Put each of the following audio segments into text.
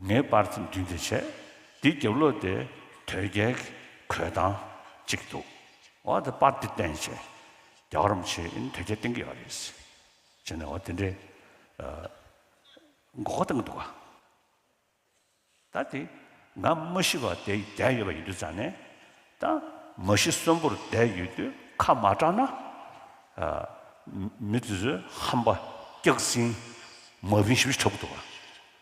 ངས་དཔར་ཚིམ་འདི་འདི་བྱས། འདི་རྒྱབ་ལོགས་དེ་དོལ་རྒྱལ་གྱི་གོས་ཐང་གཅིག་འདུག་འོ་དེ་དཔར་འདི་བསྟན་བྱས། རྒྱ་གར་རམ་ཆེ་ཨིན་དོལ་རྒྱལ་བསྟན་གྱི་ཡོད་རེད། བྱས་ནས་འོ་དེ་འདྲའི་མགོ་སྐོར་བཏང་གི་འདུག་ག་ད་དེ་ང་མ་ཤི་བ་དེ་བསྡད་ཡོད་པ་ཡིན་དུས་ཙང་ནས་ད་མ་ཤི་གསོན་པོར་བསྡད་ཡོད་དུས་ཁ་མ་གྲགས་ན། མི་དེ་ཚོས་ཧམ་པ་སྐྱག་ཟིང་མ་བིན་ཞིབ་ཞིབ་འཁྲབ་གི་འདུག་ག།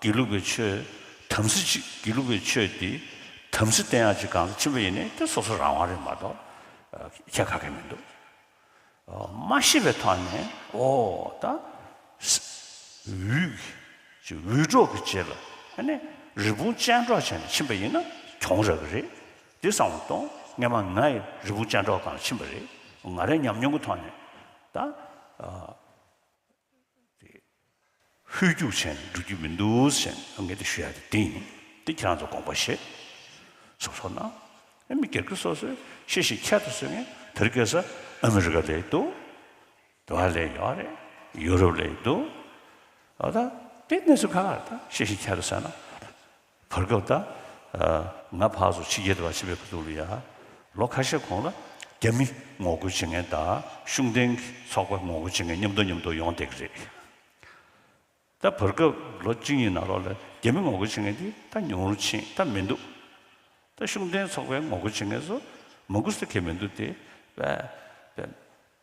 དགེ་ལུགས་པའི་ཆོས་དམ་སྲི་ཅིག་དགེ་ལུགས་པའི་ཆོས་དེ་དམ་སྲི་བསྟེན་ཡག་ཅིག་གང་ས་ཕྱིན་པ་ཡིན་ནའི་དེ་སོ་སོ་རང་དབང་རེད་མ་གཏོགས་ཁྱད་ཁ་གི་མི་འདུག་མ་ཤེས་པའི་ཐོག་ནས་ཨོ་ད་འུད་ཀྱི་འུད་སྒྲོག་གི་རྗེས་ལ་ཨ་ནི་རི་བོང་ཅལ་འདྲོག་བྱས་ནས་ཕྱིན་པ་ཡིན་ན་གྱོང་རག་གི་རེད་དེ་སང་བ་དང་སྔན་མ་ང་ཡི་རི་བོང་ཅལ་འདྲོག་གང་ཕྱིན་པ་རེད་ང་རའི་ཉམས་མྱོང་གི་ཐོག་ནས་ད། དེ། ཧུད་རྒྱུག་ཆེན་འགྲོ་རྒྱུ་མི་འདུག་ཟེར་ནས་ངས་དེ་ཞུ་ཡག་དེ་ཡིན་དེ་ཁྱེད་རང་ཚོ་དགོངས་པ་བཞེས། གསུངས་སོང་ན། ཨ་མི་སྒེར་གྱི་སོ་སོའི་ཤེས་བཞིན་ཁྱད་དུ་གསོད་ངན་དེར་སྐད་ས་ཨ་མི་རི་ཀ་ལས་འདུག་དེ་བ་ལས་ཡོག་རེད་ཡུ་རོབ་ལས་འདུག་ཨོ་ད་དེ་གནས་ཚུལ་ག་ལ་ཤེས་བཞིན་ཁྱད་དུ་གསོད་ན། བར་སྐབས་དང། ང་ཕག་སོ་ཕྱི་རྒྱལ་དུ་བ་ཕྱི་བའི་བུ་ཐུག་ལ་ཡ། ལོ་ཁ་ཤས་གོང་ལ། རྒྱ་མི་ངོ་རྒོལ་བྱེད་མཁན་དང་གཞུང་བསྟེན་གྱི་ཚོགས་པ་ངོ་རྒོལ་བྱེད་མཁན་མཉམ་འདུག་མཉམ་འདུག་ཡོང་བསྡད་ཀྱི་རེད། ད་བར་སྐབས་ལོ་གཅིག་གཉིས་ནང་ལོགས་ལ་རྒྱ་མི་ངོ་རྒོལ་བྱེད་མཁན་དེ་ད་ཉུང་རུ་ཕྱིན་ད་མི་འདུག། ད་གཞུང་བསྟེན་ཚོགས་པའི་ངོ་རྒོལ་བྱེད་མཁན་སོ་མང་ཀུ་སེ་གེ་མི་འདུག་དེ་བས།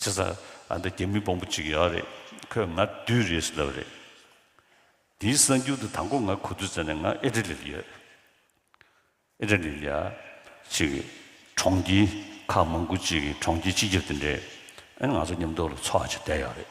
ཚེ་སང་ཨ་མདའ་རྒྱ་མི་པོང་པོ་གཅིག་ཡོད་རེད་ཁོས་ང་བདུད་རེད་ཟེར་བ་རེད། དེའི་གསང་རྒྱུད་དུ་དང་པོ་ང་གོ་དུས་ཙམ་ནས་ང་ཨེ་ཏྲ་ལིར་ཡོད། ཨེ་ཏྲ་ལིར་ཡ། ཅིག་གི་གྲོང་ཁྱེར་ཁག་མང་དགུ་གཅིག་གི་གྲོང་ཁྱེར་སྤྱི་ཁྱབ་དེ་འདྲས་ཨེ་ང་ཚོ་མཉམ་འདུག་ལ་འཚོ་བ་བྱས་བསྡད་ཡོད་རེད།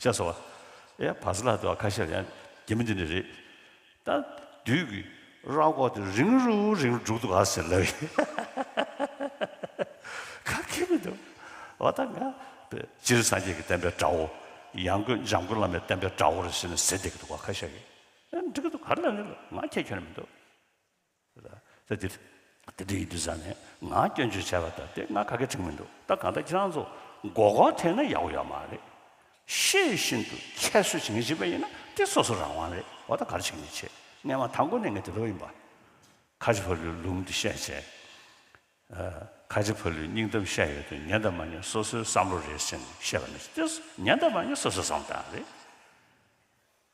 ཤ་ཟ་བ། ཨེ་བ་སི་ལགས་འདི་བ་ཁ་ཤས་ཡང་རྒྱ་མི་འདི་ནས་རེད། ད་དུས་ཀྱི་ར་སྐོག་དེ་རིང་རུ་རིང་རུ་འབྲུག་འདུག་ག་ཟེར་ལབ་ཡིན། ཁ་སྐད་མི་འདུག་བ་ད་ང་པེ་སྤྱིར་སངས་རྒྱས་ཀྱི་བསྟན་པའི་དགྲ་བོ། ཡང་སྒོས་འཇམ་མགོན་བླ་མའི་བསྟན་པའི་དགྲ་བོ་རེད་ཟེར་ནས་ཟེར་བསྡད་ཀྱི་འདུག་བ་ཁ་ཤས་ཡིན། འདི་ག་འདུག་ག་ལབ་ཡིན་ལབ་ང་ཁྱེད་ཁྱོད་ནས་མི་འདུག། ད་དེ་དེ་འདྲ་ཡིན་དུས་ཟ་ནས་ང་སྐྱོན་བརྗོད་བྱས་པ་ལྟར་དེ་སྔ་ག་གེ་ཁྲིག་མི་འདུག་ད་གང་ལྟར་ཁྱེད་རང་ཚོ་མགོ་སྐོར་ཐེབས་ན་ཡག་པོ་ཡོད་མ་རེད། ཤེས་ཡོད་བཞིན་དུ་ཁྱད་གསོད་བྱེད་མཁན་ཞིག་པ་ཡིན་ན་དེ་སོ་སོ་རང་དབང་རེད་འོ་ད་ག་རེ་བྱེད་མཁན་བྱེད་ངས་མ་མཐའ་མགོ་ནས་ངས་དེ་ལོག་ཡིན་པ། ཁ་ཆེ་ཕ་ལུའི་ལུང་དེ་བཤད་བྱས། ཁ་ཆེ་ཕ་ལུའི་སྙིང་གཏམ་བཤད་ཡོད་དོན་ཉན་དང་མ་ཉན་སོ་སོའི་བསམ་བློ་རེད་ཟེར་ནས་བཤད་པ་ནི་དེ་ཉན་དང་མ་ཉན་སོ་སོའི་བསམ་བློ་དེའང་རེད།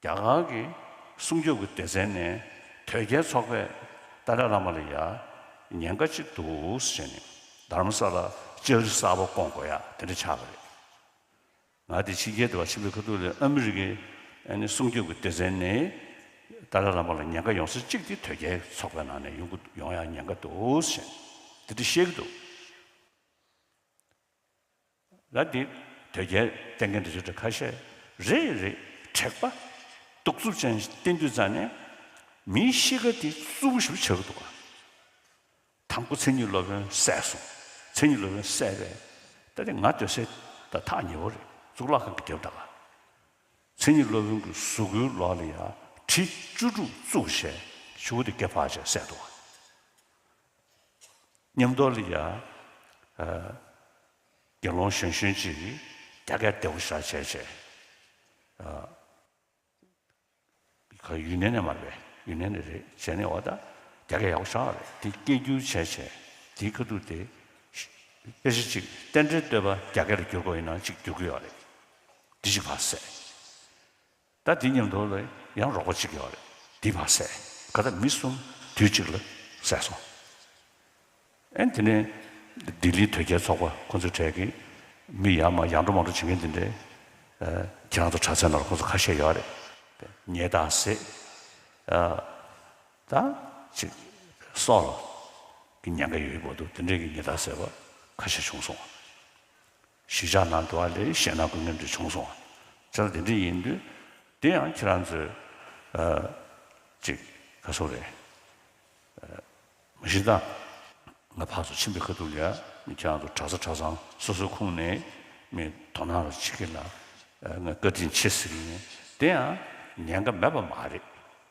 རྒྱ་གར་གྱི་སྲུང་སྐྱོབ་ཀྱི་སྡེ་ཚན་ནས་དོལ་རྒྱལ་ཚོགས་པས་ཏཱ་ལའི་བླ་མ་ལ་ཡང་ཉེན་ཁ་ཅིག་འདུག་ཟེར་ནས་དར་ས་ལ་ལྕགས་རི་གསར་པ་སྐོང་དགོས་ཡ་དེ་འདྲ་ཆགས་པ་རེད། ང་དེ་ཕྱི་རྒྱལ་དུ་བ་ཆེན་པོའི་ཁ་ཐུག་ལས་ཨ་མི་རི་ཀའི་སྲུང་སྐྱོབ་ཀྱི་སྡེ་ཚན་ནས་ཏཱ་ལའི་བླ་མ་ལ་ཉེན་ཁ་ཡོང་ས་གཅིག་དེ་དོལ་རྒྱལ་ཚོགས་པའི་ནང་ནས་ཡོང་གི་ཡོང་ཡ་ཉེན་ཁ་འདུག་ཟེར་ནས་དེ་འདྲ་བཤད་ཀྱི་འདུག། ལ་འདི་དོལ་རྒྱལ་བསྟེན་མཁན་དུ་ཆོས་གྲྭ་ཁ་ཤས་རེ་རེ་དྲེགས་པ་གདུག་རྩུབ་ཅན་བསྟེན་དུས་རྩ་ནས་མིའི་གཤིས་ཀ་དེ་གཙུག་བུ་ཞུབ་བྱེད་དགོས་འདུག་དང་པོ་མཚན་ཉིད་སློབ་དཔོན་བསད་སོང་མཚན་ཉིད་སློབ་དཔོན་བསད་པས་ད་དེ་ང་སྡོད་སའི་ད་ཐག་ཉེ་བོ་རེད་གཙུག་ལག་ཁང་གི་རྒྱབ་འདྲ་ལ་མཚན་ཉིད་སློབ་དཔོན་གྱི་གཟུགས་སྐུའི་ལོགས་ལ་ཡར་གྲི་བཅུ་དྲུག་བཙུགས་བྱས་ཆུ་བོ་དེ་བརྒལ་བར་བྱས་བསད་འདུག། ཉམས་རྟོགས་ལ་ཡ། དགེ་སློང་གཞོན་གཞོན་ཅིག། རྒྱ་སྐད་བདེ་བོ་ཤར་བྱས་བྱས། ཁོ་ཡུན་ནན་ནས་མ་རེད། ཡུན་ནན་ནས་རེད་བྱས་ནས་འོ་ད་རྒྱ་སྐད་ཡག་པོ་ཤར་བ་རེད་དེ་སྐད་བསྒྱུར་བྱས་བྱས། དེའི་ཁ་ཐུག་དེ། དཔེ་ཆ་གཅིག་རྟེན་འབྲེལ་བསྟོད་པ་རྒྱ་སྐད་ལ་བསྒྱུར་དགོས་ཡིན་ན་གཅིག་བསྒྱུར་དགོས་ཡོད་རེད། འདི་གཅིག་བར་སྲད། ད་འདི་ཉམས་རྟོགས་ལ་ཡང་རོགས་པ་གཅིག་ཡོད་རེད་འདི་མ་ཟད་ག་ད་མི་གསུམ་དུས་གཅིག་ལ་བསད་སོང། ཨན་དེ་ནས་ལྡི་ལི་དོལ་རྒྱལ་ཚོགས་པ་ཁོང་ཚོའི་གྲས་ཀྱི་མི་ཡང་མ་ཡང་འགྲོ་མ་འགྲོ་བྱེད་མཁན་དེ་འདྲས་ཁྱེད་རང་ཚོ་དྲ་ཚན་ནང་ཁོང་ཚོ་ཁ་ཤས་ཡོད་རེད། ཉེས་དང་ཟས་དང་ཅིག་སོགས་ལ་ཉེན་ཁ་ཡོད་ཡོད་པོ་འདུག་དེ་འདྲས་ཀྱི་ཉེས་དང་ཟས་པ་ཁ་ཤས་བྱུང་སོང། གཞིས་ཆགས་ནང་འགྲོ་བ་ལས་གཞན་ནང་དགོས་ངེས་འདྲ་བྱུང་སོང་བ་ལྟར་དེ་འདྲ་ཡིན་དུས། དེ་ཡང་ཁྱེད་རང་ཚོས། ཅིག་ཁ་སོ་རེད། མ་གཞི་ད། ང་ཕར་ཚུར་ཕྱིན་པའི་ཁ་ཐུག་ལས་ཁྱེད་རང་ཚོ་གྲྭ་ས་གྲྭ་ཚང་སོ་སོའི་ཁུངས་ནས་མི་དོ་སྣང་རོགས་བྱེད་ཀྱི་ལ་ང་བཀའ་དྲིན་ཆེ་ཟེར་གྱི་ཡིན་དེ་ཡང་ཉན་ཀ་མེད་པ་མ་རེད།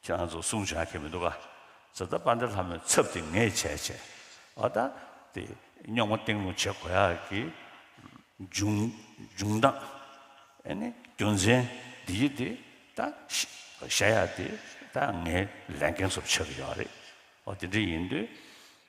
ཁྱེད་རང་ཚོ་གསུང་བྱ་མཁན་མི་འདུག་ག། ཛཱ་ཏཱ་པཱ་འདྲ་ལྷ་མོའི་ཚབ་དེ་ངས་བྱས་བྱས། ཨོ་ད། དེ་རྙོག་མ་སྟེང་རླུང་བྱེད་གོ་ཡ་གི། འབྱུང། འབྱུང་སྟངས། ཨེ་ནི་རྒྱུ་མཚན། འདི་ཡི་དེ། ད། བཤད་ཡ་དེ། ད་ངའི་ལས་འགན་སོབ་ཆགས་ཀྱི་ཡོད་རེད། ཨོ་དེ་འདྲ་ཡིན་དུས།